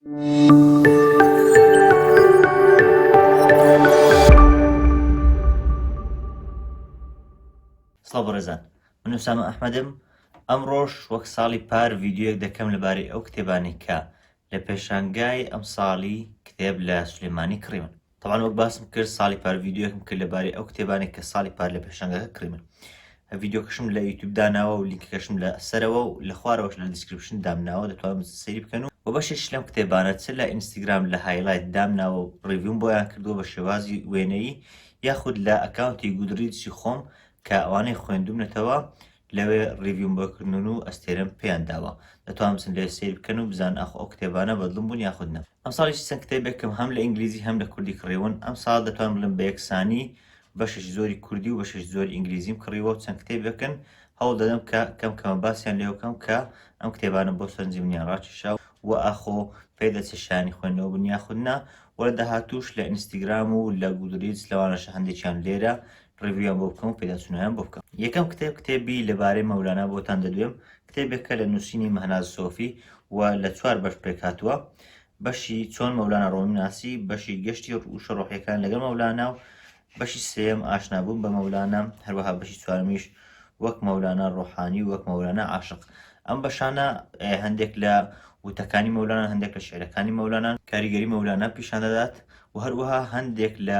سڵاو بەڕێزان من ئوسامە ئەحمەدم ئەمڕۆش وەک ساڵی پار ڤیددیوەک دەکەم لەبارەی ئەو کتێبانی کە لە پێشانگای ئەم ساڵی کتێب لە سلێمانی کڕیون تەبعەن وەک باسم کرد ساڵی پار ڤیددیوەکم کرد لەبارەی ئەو کتێبانێک کە ساڵی پار لە پێشنگەکە کڕیمن ڤیددیوکەشم لە یوتوب داناوە و لینکەکەشم لە سەرەوە و لە خوارەوەش لە دیسکرپشن دامناوە دەتوان سری بکەن و و بەشێش لەم کتێبانە چ لە ئینستاگرام لە هایلایت دامناوە و ڕیڤوم بۆیان کردووە بە شێوازی وێنەیی یاخود لە ئەکاونتی گودریجی خۆم کە ئەوانەی خوێندومنەتەوە لەوێ ڕیڤیوم بۆ کردوون و ئەستێرەم پێیان داوە دەتوان بچن لەوێ سەیر بکەن و بزانن ئاخۆ ئەو کتێبانە بەدڵم بوون یاخود نا. ئەمساڵیش چەند کتێبێکم هەم لە ئینگلیزی هەم لە کوردی کڕیون، ئەمساڵ دەتوانم بڵێم بە یەکسانی بەشێکی زۆری کوردی و بەشێکی زۆری ئینگلیزیم کڕیوە و چەند کتێبێکن هەوڵ دەدەم کە کەم کەمە باسیان لێوە بکەم کە ئەم کتێبانە بۆ سەرنجی منیان ڕاکێشا و ئاخۆ پێ دەچێت شایانی خوێندنەوە بن یاخود نا و لە داهاتووش لە ئینستیگرام و لە گودریدس لەوانەشە هەندێکیان لێرە ڕیڤیویان بۆ بکەم و پێداچوونەوەیان بۆ بکەم. یەکەم کتێب، کتێبی لەبارەی مەولانا بۆتان دەدوێم، کتێبێکە لە نووسینی مەهناز سۆفی و لە چوار بەش پێکهاتووە، بەشی چۆن مەولانا ڕۆمی ناسی، بەشی گەشتی وشە ڕۆحییەکان لەگەڵ مەولانا و بەشی سێیەم ئاشنابوون بە مەولانا، هەروەها بەشی چوارەمیش وەک مەولانا ڕۆحانی و وەک مەولانا عاشق. ئەم بەشانە هەندێک لە وتەکانی مەولانان، هەندێک لە شیعرەکانی مەولانان، کاریگەری مەولانا پیشان دەدات و هەروەها هەندێک لە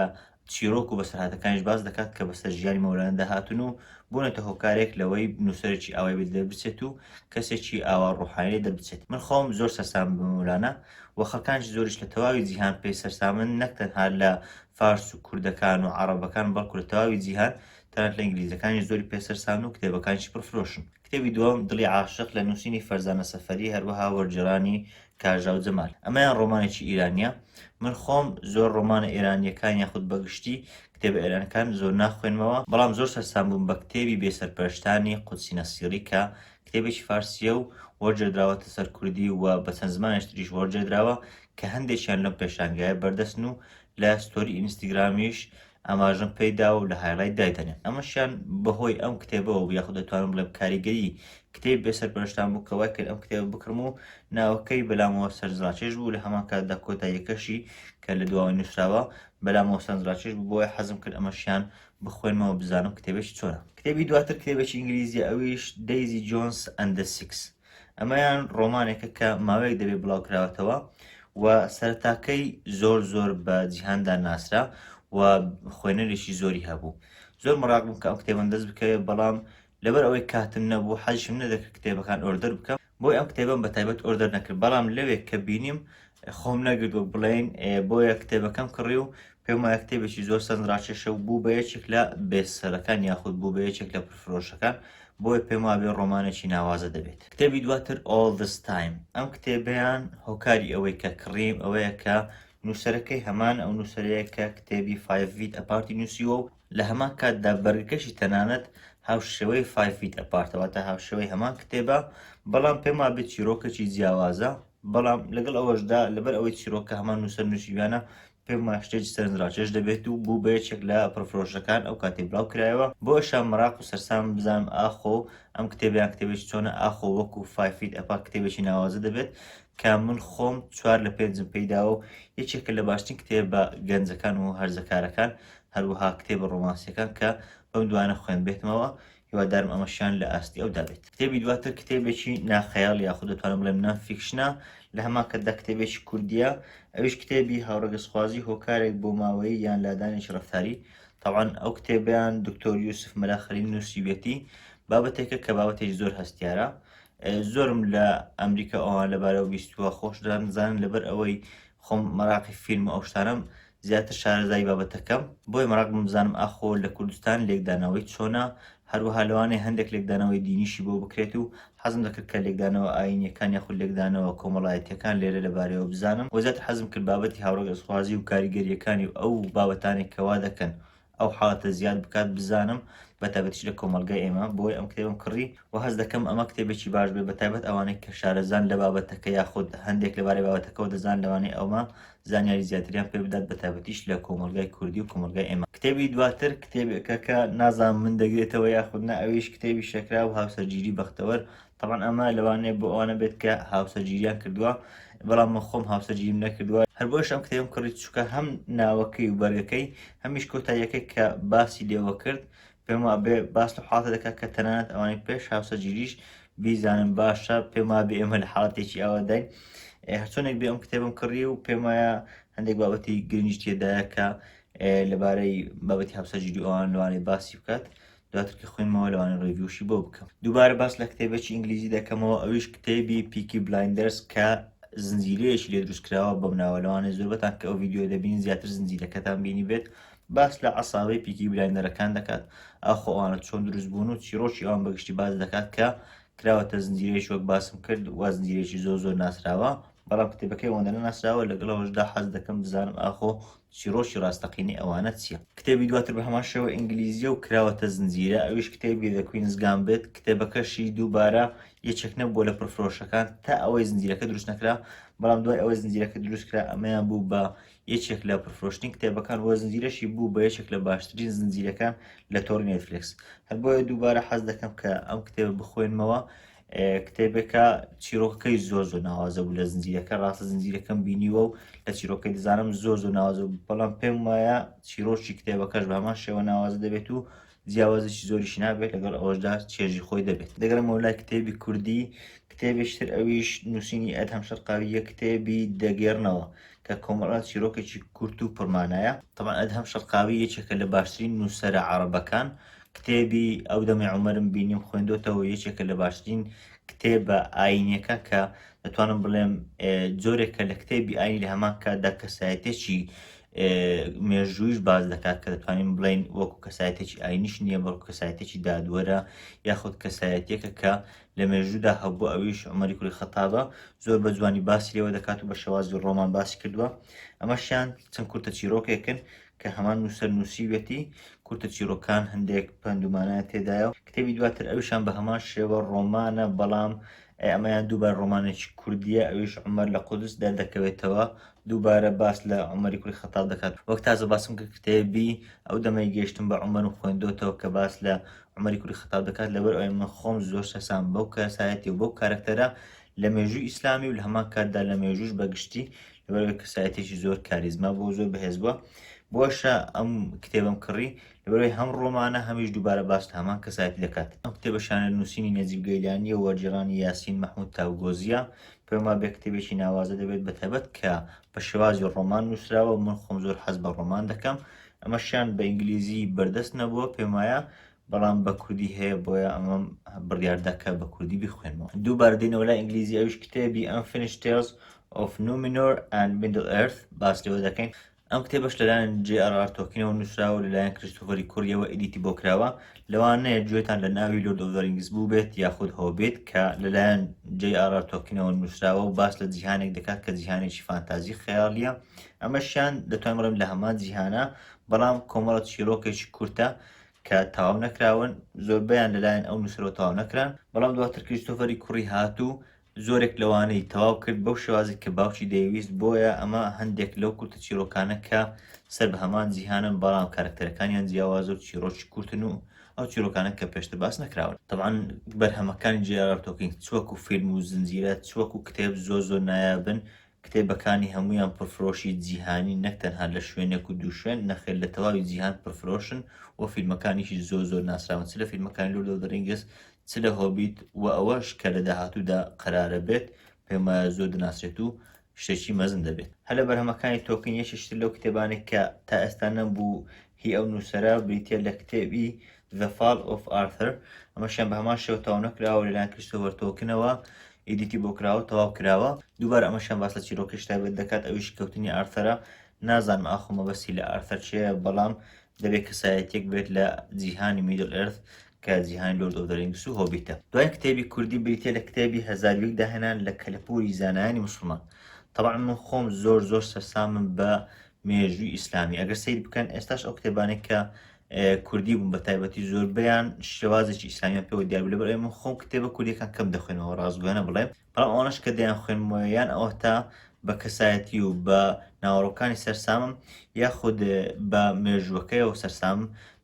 چیرۆک و بەسەرهاتەکانیش باس دەکات کە بەسەر ژیانی مەولانەدا هاتوون و بوونەتە هۆکارێک لەوەی نووسەرێکی ئاوای بێ دەربچێت و کەسێکی ئاوا ڕۆحانی لێ دەربچێت. من خۆم زۆر سەرسامم بە مەولانە و خەڵکانیکی زۆریش لە تەواوی جیهان پێی سەرسامن، نەک تەنها لە فارس و کوردەکان و عەڕەبەکان بەڵکو لە تەواوی جیهان، تەنانەت لە ئینگلیزەکانیش زۆری پێ سەرسامن و کتێبەکانیشی پڕفرۆشن. کتێبی دووەم، دڵی عاشق، لە نووسینی فەرزانە سەفەری، هەروەها وەرگێڕانی کاژاو جەمال ئەمەیان ڕۆمانێکی ئیرانیە من خۆم زۆر ڕۆمانە ئێرانیەکان یاخود بەگشتی کتێبە ئێرانەکان زۆر ناخوێنمەوە بەڵام زۆر سەرسام بووم بە کتێبی بێ سەرپەرشتانی قودسی نەسیری کە کتێبێکی فارسیە و وەرجێدراوەتە سەر کوردی و بە چەند زمانێش تریش وەرجێدراوە کە هەندێکیان لەم پێشانگایە بەردەستن و لە ستۆری ئینستیگرامیش ئاماژەم پێی داوە و لە هایلایت دایدەنێ ئەمەشیان بەهۆی ئەم کتێبەوە بوو یاخود دەتوانم بڵێم کاریگەری کتێب بێ سەرپەرشتان بوو کە وای کرد ئەم کتێبە بکڕم و ناوەکەی بەلامەوە سەرنجڕاکێش بوو لە هەمان کاتدا کۆتاییەکەشی کە لە دواوە نووسراوە بەلامەوە سەرنجڕاکێش بوو بۆیە حەزم کرد ئەمەشیان بخوێنمەوە بزانم کتێبێکی چۆنە کتێبی دواتر کتێبێکی ئینگلیزیە ئەویش دەیزی جۆنس ئەندە سیکس ئەمەیان ڕۆمانێکە کە ماوەیەک دەبێت بڵاوکراوەتەوە و سەرتاکەی زۆر زۆر بە جیهاندا ناسرا و خوێنەرێکی زۆری هەبوو زۆر مراقبم کە ئەو کتێبم دەست بکەوێت بەڵام لەبەر ئەوەی کاتم نەبوو حەزشم نەدەکرد کتێبەکان ئۆردەر بکەم بۆی ئەم کتێبم بە تایبەت ئۆردەر نەکرد بەڵام لەوێک کە بینیم خۆم نەگرت وەک بڵێین بۆیە کتێبەکەم کڕی و پێم وایە کتێبێکی زۆر سەنراکێشە و بوو بە یەکێک لە بێسەرەکان یاخود بوو بە یەکێک لە پرفرۆشەکان بۆیە پێم وابێ ڕۆمانێکی ناوازە دەبێت کتێبی دواتر All This Time ئەم کتێبیان هۆکاری ئەوەی کە کڕیم ئەوەیە کە نووسەرەکەی هەمان ئەو نووسەرەیە کە کتێبی فایڤیت ئەپارتی نووسیوە و لە هەمان کاتدا بەرگەکەشی تەنانەت هاوشێوەی فایڤیت ئەپارتەوە تا هاوشێوەی هەمان کتێبە بەڵام پێم وابێت چیرۆکەکی جیاوازە بەڵام لەگەڵ ئەوەشدا لەبەر ئەوەی چیرۆکە هەمان نووسەر نووسیویانە پێم وایە شتێکی سەرنجڕاکێش دەبێت و بوو بە یەکێک لە پڕفرۆشەکان ئەو کاتەی بڵاو کرایەوە بۆ ئێشا مەراق و سەرسامم بزانم ئاخۆ ئەم کتێبە یان کتێبێکی چۆنە ئاخۆ وەکوو فای فیت ئەپا کتێبێکی ناوازە دەبێت کە من خۆم چوار لە پێنجم پێیداوە و یەکێکە لە باشترین کتێبە گەنجەکان و هەرزەکارەکان هەروەها کتێبە ڕۆمانسیەکان کە بەم دوانە خوێندبێتمەوە هیوادارم ئەمەشیان لە ئاستی ئەودا بێت کتێبی دواتر کتێبێکی ناخەیاڵ یاخود دەتوانم بڵێم نان فیکشنە لە هەمان کەدا کتێبێکی کوردیە ئەویش کتێبی هاوڕەگەزخوازی هۆکارێک بۆ ماوەیی یان لادانێکی ڕفتاری تاوان ئەو کتێبیان دکتۆر یوسف مەلاخەلین نووسیویەتی بابەتێکە کە بابەتێک زۆر هەستیارە زۆرم لە ئەمریکا ئەوان لەبارەوە بیستووە خۆش دەزانن لەبەر ئەوەی خۆم مەراقی فیلم ئەو شتانم زیاتر شارەزای بابەتەکەم، بۆیە مەراق بووم بزانم ئاخۆ لە کوردستان لێکدانەوەی چۆنە، هەروەها لەوانەیە هەندێک لێکدانەوەی دینیشی بۆ بکرێت و حەزم دەکرد کە لێکدانەوە ئایینییەکان یاخود لێکدانەوە کۆمەڵایەتییەکان لێرە لەبارەیەوە بزانم و زیاتر حەزم کرد بابەتی هاوڕەگەزخوازی و کاریگەرییەکانی و ئەو بابەتانەی کە وا دەکەن ئەو حاڵەتە زیاد بکات بزانم بە تایبەتیش لە کۆمەڵگای ئێمە بۆی ئەم کتێبم کڕی و هەست دەکەم ئەمە کتێبێکی باش بێت بە تایبەت ئەوانەی کە شارەزان لە بابەتەکە یاخود هەندێک لەبارەی بابەتەکەەوە دەزان لەوانەی ئەومە زانیاری زیاتریان پێ بدات بە تایبەتیش لە کۆمەلگای کوردی و کۆمەلگای ئێمە کتێبی دواتر کتێبێکە کە نازان من دەگرێتەوە یاخود نە ئەویش کتێبی شەکرا و هاوسەرگیری بەختەوەر تەبعەن ئەمە لەوانەیە بۆ ئەوانە بێت کە هاوسەرگیریان کردووە بەڵام من خۆم هاوسەرگیریم نەکردووە هەر بۆیەش ئەم کتێبم کڕی چووکە هەم ناوەکەی و بەرگەکەی هەمیش کۆتاییەکەی کە باسی لێوە کرد پێم وابێ باس لە حاڵەتە دەکات کە تەنانەت ئەوانەی پێش هاوسەرگیریش بیزانن باشە پێم وابێ ئێمە لە حاڵەتێکی ئەوەداین هەرچۆنێک بێ ئەم کتێبم کڕی و پێم وایە هەندێک بابەتی گرنگی تێدایە کە لەبارەی بابەتی هاوسەرگیری ئەوان لەوانەی باسی بکات دواتر کە خوێنمەوە لەوانە ڕێڤیوشی بۆ بکەم دووبارە باس لە کتێبێکی ئینگلیزی دەکەمەوە ئەویش کتێبی پیکی بلایندەرس کە زنجیرەیەکی لێ دروستکراوە بەم ناوە لەوانە زۆربەتان کە ئەو یددیو دەبین زیاتر زنجیرەکەتان بینی بێت باس لە عساوی پیکی بلایندەرەکان دەکات ئاخۆوانە چۆن دروست بوون و چیرۆکی ئەوان بەگشتی باز دەکات کە کراوەتە زنجیرەیەش وەک باسم کرد و زنجیرێکی زۆر زۆر ناسراوە بەڵام کتێبەکەی ئەوەندە ناسراوە لەگەڵەوەشدا حەز دەکەم بزانم ئاخۆ چیڕۆکی ڕاستەقینەی ئەوانە چیە؟ کتێبی دواتر بەهەمان شێوە ئینگلیزیە و کراوەتە زنجیرە ئەویش کتێبی The Queen's Gambit کتێبەکەشی دووبارە یەکێک نەبووە لە پڕفرۆشەکان تا ئەوەی زنجیرەکە دروست نەکرا بەڵام دوای ئەوەی زنجیرەکە دروست کرا ئەمەیان بوو بە یەکێک لە پرفرۆشتین کتێبەکان وە زنجیرەشی بوو بە یەکێک لە باشترین زنجیرەکان لە تۆڕی نێتفلکس هەر بۆیە دووبارە حەز دەکەم کە ئەم کتێبە بخوێنمەوە کتێبەکە چیرۆکەکەی زۆر زۆر ناوازە بوو لە زنجیرەکە ڕاستە زنجیرەکەم بینیوە و لە چیرۆکەی دەزانم زۆر زۆر ناوازە بەڵام پێم وایە چیرۆکی کتێبەکەش بە هەمان شێوە ناوازە دەبێت و جیاوازیی زۆریش نابێت لەگەڵ ئەوەشدا چێژی خۆی دەبێت دەگەرمەوە لای کتێبی کوردی کتێبیشتر ئەویش نووسینی ئەت هەم شەرقاویە کتێبی دەگێرنەوە کە کۆمەڵە چیرۆکێکی کورت و پڕمانایە تەمان ئەت هەم شەرقاوی یەکێکە لە باشترین نووسرە عربەکان کتێبی ئەو دەمێ عمرم بینیم خوێندۆتەوە یەکێکە لە باشترین کتێبە ئاینەکە کە دەتوانم بڵێم جۆرێکە لە کتێبی ئاین لە هەمان کاتدا کەسایەتێکی مێژوویش باز دەکات کە دەتوانین بڵین وەکو کەسایەتێکی ئاینیش نییە بەڵکو کەسایەتێکی دادوەرە یاخود کەسایەتێکە کە لە مێژوودا هەبوو ئەویش عمەری کوری خەتابە زۆر بە جوانی باسی لێوە دەکات و بە شێوازی ڕۆمان باسی کردووە ئەمەشیان چەند کورتە چیرۆکێکن کە هەمان نووسەر نووسیویەتی، کورتە چیڕۆکان هەندێک پەند و مانایان تێدایە و کتێبی دواتر ئەویشان بە هەمان شێوە ڕۆمانە، بەڵام ئەمەیان دووبارە ڕۆمانێکی کوردییە، ئەویش عومەر لە قودس دەردەکەوێتەوە، دووبارە باس لە عومەری کوڕی خەتاب دەکات، وەک تازە باسم کرد کتێبی ئەو دەمەی گەیشتم بە عومەرم خوێندۆتەوە کە باس لە عومەری کوڕی خەتاب دەکات، لەبەر ئەوەی من خۆم زۆر سەرسامم بەو کەسایەتی و بەو کارەکتەرە لە مێژووی ئیسلامی و لە هەمان کاتدا لە مێژووش بە گشتی لەبەرەوەی کەسایەتێکی زۆر کاریزما بۆ زۆر بەهێز بووە بۆشە ئەم کتێبم کڕی لەبەرەوەی هەم ڕۆمانە هەمیش دووبارە باس هەمان کەسایەت دەکات ئەم کتێبە شانە نووسینی نەجیب گەیلانی و وەرجێڕانی یاسین مەحمود تاوگۆزیە پێما بێ کتێبێکی ناوازە دەبێت بە تەبەت کە بە شێوازی ڕۆمان نووسراوە من خۆم زۆر حەز بە ڕۆمان دەکەم ئەمەشیان بە ئینگلیزی بەردەست نەبووە پێمایە بەڵام بە کوردی هەیە بۆیە ئەمەم بڕیاردا کە بە کوردی بیخوێنمەوە دووبارە دێنەوە لای ئینگلیزی ئەویش کتێبی Unfinished Tales of Numenor and Middle Earth باس لەوە دەکەین ئەم کتێبەش لەلایەن جێ ئەڕار تۆکینەوە نووسراوە لەلایەن کریستۆفەری کوڕیەوە ئیدیتی بۆ کراوە لەوانەیە گوێتان لە ناوی لۆرد ئۆف ڕینگس بوو بێت یاخود هۆبێت کە لەلایەن جێ ئەڕار تۆکینەوە نووسراوە و باس لە جیهانێک دەکات کە جیهانێکی فانتازی خەیاڵیە ئەمەشیان دەتوان بڵێن لە هەمان جیهانە بەڵام کۆمەڵە چیرۆکێکی کورتە کە تەواو نەکراون، زۆربەیان لەلایەن ئەو نووسەرەوە تەواو نەکران، بەڵام دواتر کریستۆفەری کوڕی هات و زۆرێک لەوانەی تەواو کرد بەو شێوازی کە باوکی دەیویست، بۆیە ئەمە هەندێک لەو کورتە چیرۆکانە کە سەر بە هەمان جیهانن بەڵام کارەکتەرەکانیان جیاوازە و چیرۆکی کورتن و ئەو چیرۆکانە کە پێشتر باس نەکراون طبعا بەرهەمەکانی جێرارد تۆکین چوەکو فیلم و زنجیرە چوەکو کتێب زۆر زۆر نایابن کتێبەکانی هەموویان پڕفرۆشی جیهانین نەک تەنها لە شوێنێک و دوو شوێن، نەخێر لە تەواوی جیهان پڕفرۆشن و فیلمەکانیشی زۆر زۆر ناسراون چ لە فیلمەکانی لۆرد ئۆف دە رینگس چ لە هۆبیت و ئەوەش کە لە داهاتوودا قەرارە بێت پێم وایە زۆر دەناسرێت و شتێکی مەزن دەبێت. هەر لە بەرهەمەکانی تۆکین یەکێکیتر لەو کتێبانەی کە تا ئێستا نەمبوو هی ئەو نووسەرە بریتییە لە کتێبی The Fall of Arthur، ئەمەشیان بە هەمان شێوە تەواو نەکراوە لەلایەن کریستۆفەر تۆلکنەوە ئیدیتی بۆ کراوە تەواو کراوە دووبارە ئەمەشیان باس لە چیرۆکێکی تایبەت دەکات ئەویش کەوتنی ئارثەرە نازانم ئاخۆ مەبەستی لە ئارثەر چییە بەڵام دەبێت کەسایەتیەک بێت لە جیهانی میدل ئێرث کە جیهانی لۆرد ئۆف دەرینگس و هۆبیتە دوای کتێبی کوردی بریتە لە کتێبی هەزارویک داهێنان لە کەلەپوری زانایانی مسلمان طبعا من خۆم زۆر زۆر سەرسامم بە مێژووی ئیسلامی ئەگەر سەیر بکەن ئێستاش ئەو کتێبانێک کە کوردی بوون بە تایبەتی زۆربیان شێوازێکی ئیسلامیان پێوە دیار لە بەرێ من خۆم کتێبە کوردیەکان کەم دەخوێنەوە ڕازگویانە بڵێ بەڵام ئەوانش کە دەیان خوێنمەوە یان ئەوە تا بە کەسایەتی و بە ناوەڕۆکانی سەرسامم یاخود بە مێژووەکەیەوە سەرسام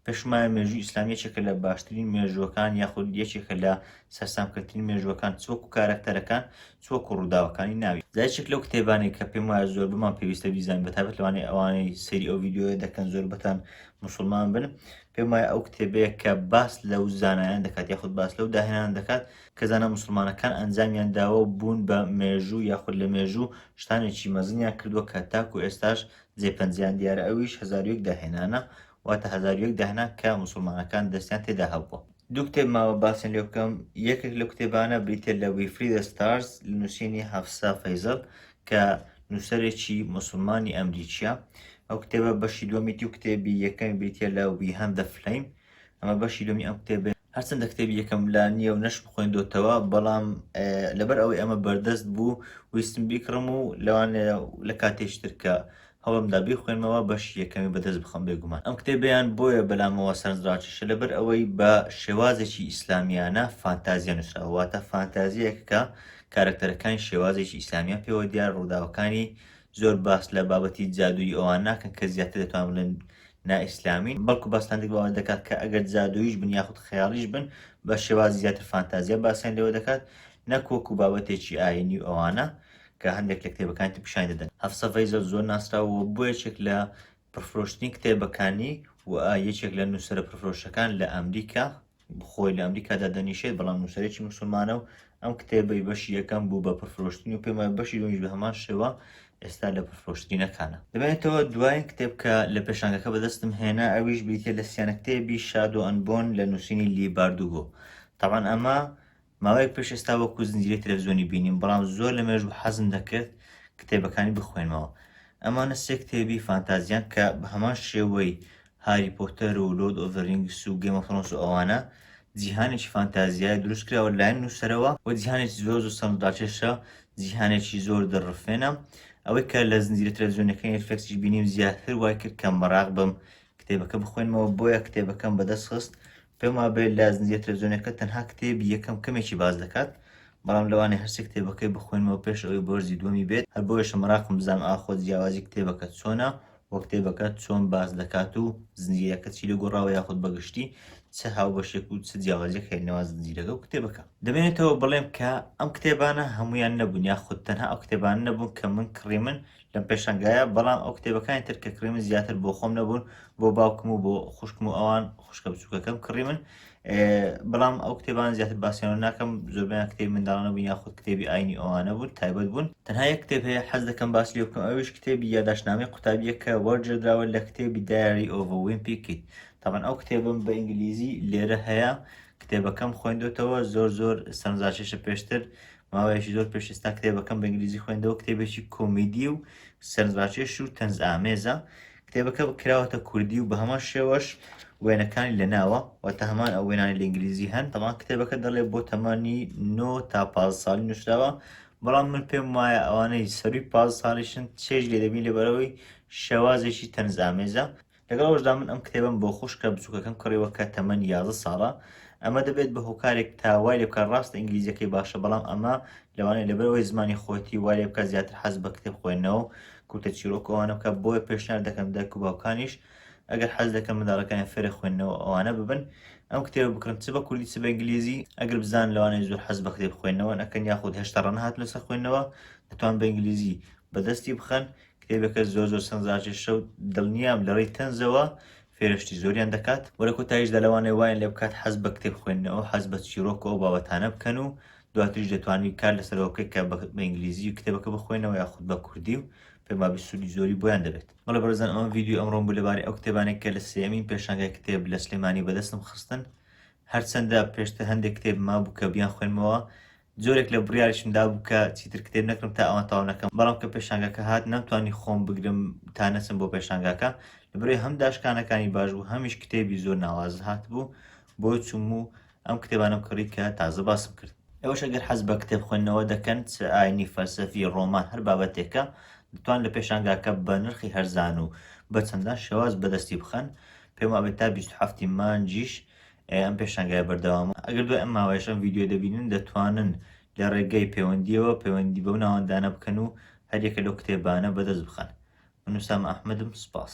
پێشومایە مێژووی ئیسلام یەکێکە لە باشترین مێژووەکان یاخود یەکێکە لە سەرسامکردترین مێژووەکان چ وەکو کارەکتەرەکان چ وەکو ڕووداوەکانی ناوی جا یەکێک لەو کتێبانەی کە پێم وایە زۆر بمان پێویستە بیزانین بە تایبەت لەوانەیە ئەوانەی سەیری ئەو ڤیدیۆیە دەکەن زۆربەتان موسڵمان بن پێم وایە ئەو کتێبەیە کە باس لەو زانایان دەکات یاخود باس لەو داهێنان دەکات کە زانە موسڵمانەکان ئەنجامیان داوە و بوون بە مێژوو یاخود لە مێژوو شتانێکی مەزنیان کردووە کە تاکو ئێستاش جێپەنجیان دیارە ئەویش هەزار و یەک داهێنانە واتە هەزار و یەک داهنا کە موسڵمانەکان دەستیان تێدا هەبووە. دوو کتێب ماوە باسیان لێ بکەم، یەکێک لەو کتێبانە بریتییە لە We Free the Stars لە نووسینی هەفسا فەیزەڵ کە نووسەرێکی موسڵمانی ئەمریکییە. ئەو کتێبە بەشی دووەمیتی و کتێبی یەکەمی بریتییە لە We Hunt the Flame، ئەمە بەشی دووەمی ئەم کتێبەیە. هەرچەندە کتێبی یەکەم لا نییە و نەشمخوێندۆتەوە، بەڵام لەبەر ئەوەی ئەمە بەردەست بوو ویستم بیکڕم و لەوانەیە لە کاتێکی تر کە هەوڵمدا بیخوێنمەوە بەشی یەکەمی بەدەست بخەم بێگومان ئەم کتێبەیان بۆیە بەلامەوە سەرنجڕاکێشە لەبەر ئەوەی بە شێوازێکی ئیسلامیانە فانتازیا نووسراوە واتە فانتازیایەک کە کارەکتەرەکانی شێوازێکی ئیسلامیان پێوە دیار ڕووداوەکانی زۆر باس لە بابەتی جادووی ئەوان ناکەن کە زیاتر دەتوان بڵێن نائیسلامین بەڵکو باستان دەک باوە دەکات کە ئەگەر جادوویش بن یاخود خەیاڵیش بن بە شێوازی زیاتر فانتازیا باسیان لەوە دەکات نەکۆک و بابەتێکی ئاینی و ئەوانە کە هەندێک لە کتێبەکانی تر پیشانی دەدەن هەفسە ڤەیزەل زۆر ناسراوە و بووە یەکێک لە پڕفرۆشتنی کتێبەکانی و یەکێک لە نووسەرە پرفرۆشەکان لە ئەمریکا خۆی لە ئەمریکادا دەنیشێت بەڵام نووسەرێکی مسلمانە و ئەم کتێبەی بەشی یەکەم بوو بە پرفرۆشتنی و پێمە بەشی دومیش بە هەمان شێوە ئێستا لە پرفرۆشترینەکانە دەبێتەوە دوایین کتێب کە لە پێشانگەکە بەدەستم هێنا ئەویش بریتە لە سیانە کتێبی شادۆ ئەنبۆن لە نووسینی لی باردوگۆ تاوان ئەمە ماوەیەک پێش ئێستا وەکو زنجیرەی تەلەفزیۆنی بینیم بەڵام زۆر لەمێژوو حەزم دەکرد کتێبەکانی بخوێنمەوە ئەمانە سێ کتێبی فانتازیان کە بەهەمان شێوەی هاری پۆتەر و لۆرد ئۆف زە رینگس و گەیم ئۆف ثرۆنس و ئەوانە جیهانێکی فانتازیایە دروست کراوە لایەن نووسەرەوە وە جیهانێکی زۆر زۆر سەرنج ڕاکێشە جیهانێکی زۆر دڵڕفێنە ئەوەی کە لە زنجیرە تەلەفزیۆنەکەی نێتفلێکسیش بینیم زیاتر وای کرد کە مەراق بم کتێبەکە بخوێنمەوە بۆیە کتێبەکەم بەدەست خست پێم وابێ لە زنجیرە تەلەفزیۆنیەکە تەنها کتێبی یەکەم کەمێکی باس دەکات، بەڵام لەوانەیە هەرسێ کتێبەکەی بخوێنمەوە پێش ئەوەی بۆرزی دووەمی بێت، هەر بۆیەشە مەراقم بزانم ئاخۆ جیاوازی کتێبەکە چۆنە و کتێبەکە چۆن باس دەکات و زنجیرەکە چی لێگۆڕاوە یاخود بەگشتی چ هاوبەشێک و چ جیاوازیەک هەیە نێوان زنجیرەکە و کتێبەکە. دەمێنێتەوە بڵێم کە ئەم کتێبانە هەموویان نەبوون یاخود تەنها ئەو کتێبانە نەبوون کە من کڕیمن لەم پێشەنگایە بەڵام ئەو کتێبەکانی تر کە کڕیمن زیاتر بۆ خۆم نەبوون بۆ باوکم و بۆ خوشکم و ئەوان خوشکە بچووکەکەم کڕی من بەڵام ئەو کتێبان زیاتر باسییانەوە ناکەم زۆربیان کتێب منداڵانە بوو یاخود کتێبی ئاینی ئەوانە بوون تایبەت بوون تەنها یە کتێب هەیە حەز دەکەم باس لێ بکەم ئەویش کتێبی یاداشنامەی قوتابیە کە وەرجێدراوە لە کتێبی دایری ئۆڤە ویمپی کیت تاان ئەو کتێبم بە ئینگلیزی لێرە هەیە کتێبەکەم خوێندوتەوە زۆر زۆر سەرنجاشێشە پێشتر ماوەیەکی زۆر پێش ئێستا کتێبەکەم بە ئینگلیزی خوێندەوە کتێبێکی کۆمیدی و سەرنجڕاکێش و تەنز ئامێزە کتێبەکە کراوەتە کوردی و بە هەمان شێوەش وێنەکانی لە ناوە و تا هەمان ئەو وێنانی لە ئینگلیزی هەن تەمان کتێبەکە دەڵێ بۆ تەمانی 9 تا پ ساڵی نووسراوە بەڵام من پێم وایە ئەوانەی سەروی پ ساڵیشن چێژ لێ دەبین لەبەرەوەی شێوازێکی تەنزامێزە لەگەڵ ئەوەشدا من ئەم کتێبەم بۆ خوشکە بچووکەکەم کڕیوە کە تەمەنی یازە ساڵە ئەمە دەبێت بە هۆکارێک تا وای لێ بکە ڕاستە ئینگلیزیەکەی باشە بەڵام ئەمە لەوانەیە لەبەرەوەی زمانی خۆتی وای لێ بکە زیاتر حەز بە کتێب خوێندنەوە کورتە چیرۆک ئەوانە بکە بۆیە پێشنیار دەکەم دایک و باوکانیش ئەگەر حەز دەکەم منداڵەکانیان فێرە خوێندنەوە ئەوانە ببن ئەم کتێبە بکڕن چ بە کوردی چ بە ئینگلیزی ئەگەر بزان لەوانەیە زۆر حەز بە کتێب خوێندنەوە نەکەن یاخود هێشتا ڕەنەهات لەسەر خوێندنەوە دەتوان بە ئینگلیزی بەدەستی بخەن کتێبەکە زۆر زۆر سەنزاژێشە و دڵنیام لەڕێی تەنزەوە فێرشتی زۆریان دەکات و لە کۆتاییشدا لەوانەیە وایان لێ بکات حەز بە کتێب خوێندنەوە، حەز بە چیڕۆک و ئەو بابەتانە بکەن و دواتریش دەتوانن کار لەسەرەوە بکەیت کە بە ئینگلیزی کتێبەکە بخوێنەوە یاخود بە کوردی و پێمابی سوودی زۆری بۆیان دەبێت. بەڵێ بەڕێزان ئەمە ڤیدیۆی ئەمڕۆم بوو لەبارەی ئەو کتێبانەی کە لە سێیەمین پێشانگای کتێب لە سلێمانی بەدەستم خستن هەرچەندە پێشتر هەندێک کتێب مابوو کە بیانخوێنمەوە جۆرێک لە بڕیاریشم دابوو کە چیتر کتێب نەکڕم تا ئەوان تەواو نەکەم، بەڵام کە پێشانگاکە هات نەمتوانی خۆم بگرم تا نەچم بۆ پێشانگاکە، لەبەرئەوەی هەم داشکانەکانی باش بوو هەمیش کتێبی زۆر ناوازە هاتبوو، بۆیە چووم و ئەم کتێبانەم کڕی کە تازە باسم کرد. ئێوەش ئەگەر حەز بە کتێب خوێندنەوە دەکەن، چ ئاینی، فەلسەفی، ڕۆمان هەر بابەتێکە، دەتوان لە پێشانگاکە بە نرخی هەرزان و بە چەندان شێواز بەدەستی بخەن، پێم وابێت تا بیست و حەفتی مانجیش ئەم پێشانگایە بەردەوامە، ئەگەر دوای ئەم ماوەیەش ئەم ڤیدیۆیە دەبینن دەتوانن لە ڕێگەی پەیوەندییەوە پەیوەندی بەو ناوەندانە بکەن و هەر یەکە لەو کتێبانە بەدەست بخەن. من ئوسامە ئەحمەدم، سوپاس.